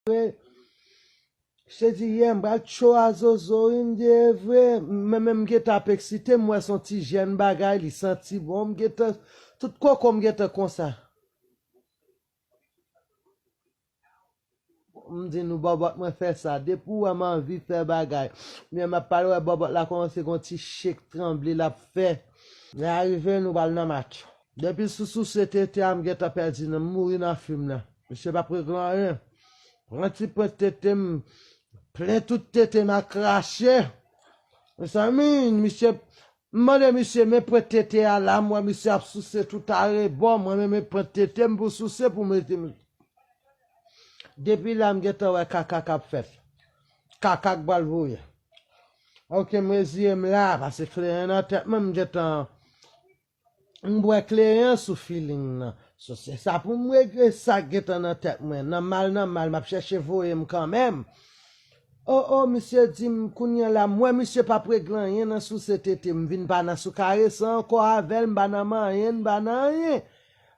vre se di yè m pral cho a zozo wi m di evre mwen menm m gentan ap eksite m wè son ti jèn bagay li santi bon m gentan tout koko m gentan konsa m di nou bòbòt mwen fè sa depi ou wè m anvi fè bagay men map pale wè bòbòt la kòmanse gon ti chek tranble lap fè lè a rive nou pral nan match. Depi sou souse tete a m gentan pèdi nan m mouri nan fim nan misye pap regle anyen pran ti pwent tete m plen tout tete m a krache mezanmi misye m mande misye men pwent tete a la m wè misye ap souse tout arebò mwen menm e pwent tete m pou souse pou mete m depi la m gentan wè kaka kap fèt kaka k pral voye ok m reziye m la pase kleren nan tèt mwen m gentan. M bwè kleren sou feeling nan. So se sa pou m regle sa k gentan nan tèt mwen. Nan mal nan mal m ap chèche voye m kanmenm. O o misye di m kounye la m wè misye p ap regle anyen nan souse tete m vin pa nan sou karese ankò avè l m pa nan manyen n pa nan anyen.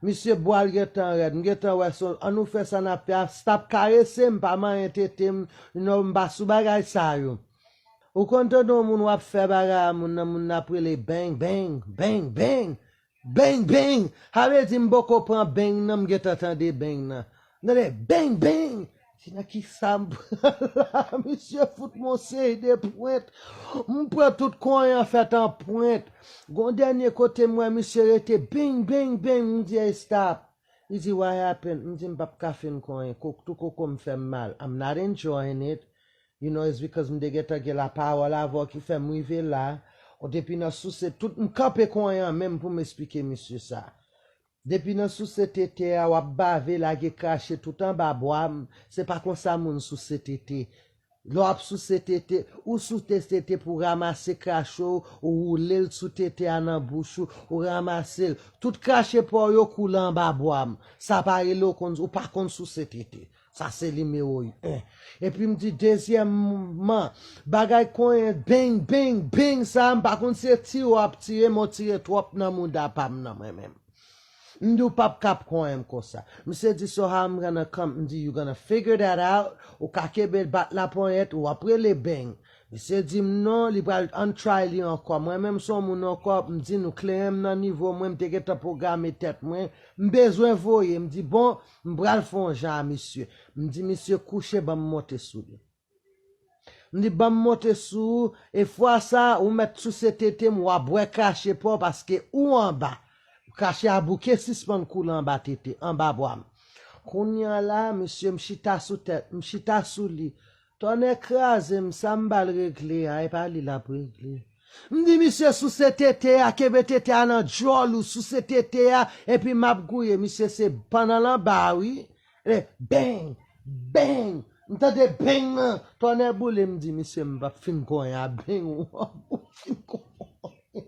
Misye bwa l gentan rèd m gentan wè so l an nou fè sa n ap fè a stop karese m pa manyen tete m you know m pa sou bagay sa yo. Ou konn tande yon moun wap fè bagay a moun nan moun nan ap rele beng beng, beng beng, beng beng, sa vle di m poko pran beng nan m gentan tande beng nan. M tande beng beng, m di nan kisa m pran la misye fout m on seri de pwent, m pran tout kony an fèt an pwent. Gon dènye kote m wè misye rete beng beng beng, m di ey stop, li di what happened, m di m pap ka fin kony, kou tou koko m fè m mal, I'm not enjoying it. You know it's because m te gentan gen la parole avè w ki fè m rive la, ou depi nan souse tout m kanpe kon yan menm pou m esplike misye sa. Depi nan souse tete a wap bave lage krache tout anba bwa m, se pa konsa moun souse tete. Lè wap souse tete, ou souse tete pou ramase krache w, ou woule l sou tete a nan bouch ou, ou ramase l, tout krache pa w yo koule anba bwa m, sa pa rele w konn, ou pa konn souse tete. Sa se nimewo 1. Epi m di dezyèmman, bagay konyen bing, bing, bing sa a, m pa konn si se tire w ap tire men w tire twòp nan mouda pa m nan mwen menm. M di w pap ka ap konyen m konsa. Misye di so how m gonna come, m di you gonna figure that out, ou ka kenbe l bat laponyèt, ou ap rele bing. Misye di m non, li pral untry li ankò. Mwen menm se yon moun ankò, m di nou kleren m nan nivo mwen, m te gentan pwograme tèt mwen, m bezwen voye, m di bon, M pral fè yon jan a misye. M di misye kouche ban m monte sou li. M di ban m monte sou ou e fwa sa a ou mèt souse tete m, w a bwè krache pa w paske ou anba. Krache a bouke sispann koule anba tete, anba bwa m. Kounye a la a misye m chita sou tèt, m chita sou li, Tonnè krazem sa m bal regle a epa li lap regle m di misye souse tete a kenbe tete a nan djòl ou souse tete a epi map gouye misye se ban nan lanba wi le beng beng m tande beng nan tonnè boulem m di misye m pap fin konyen a beng ou ap fin konyen.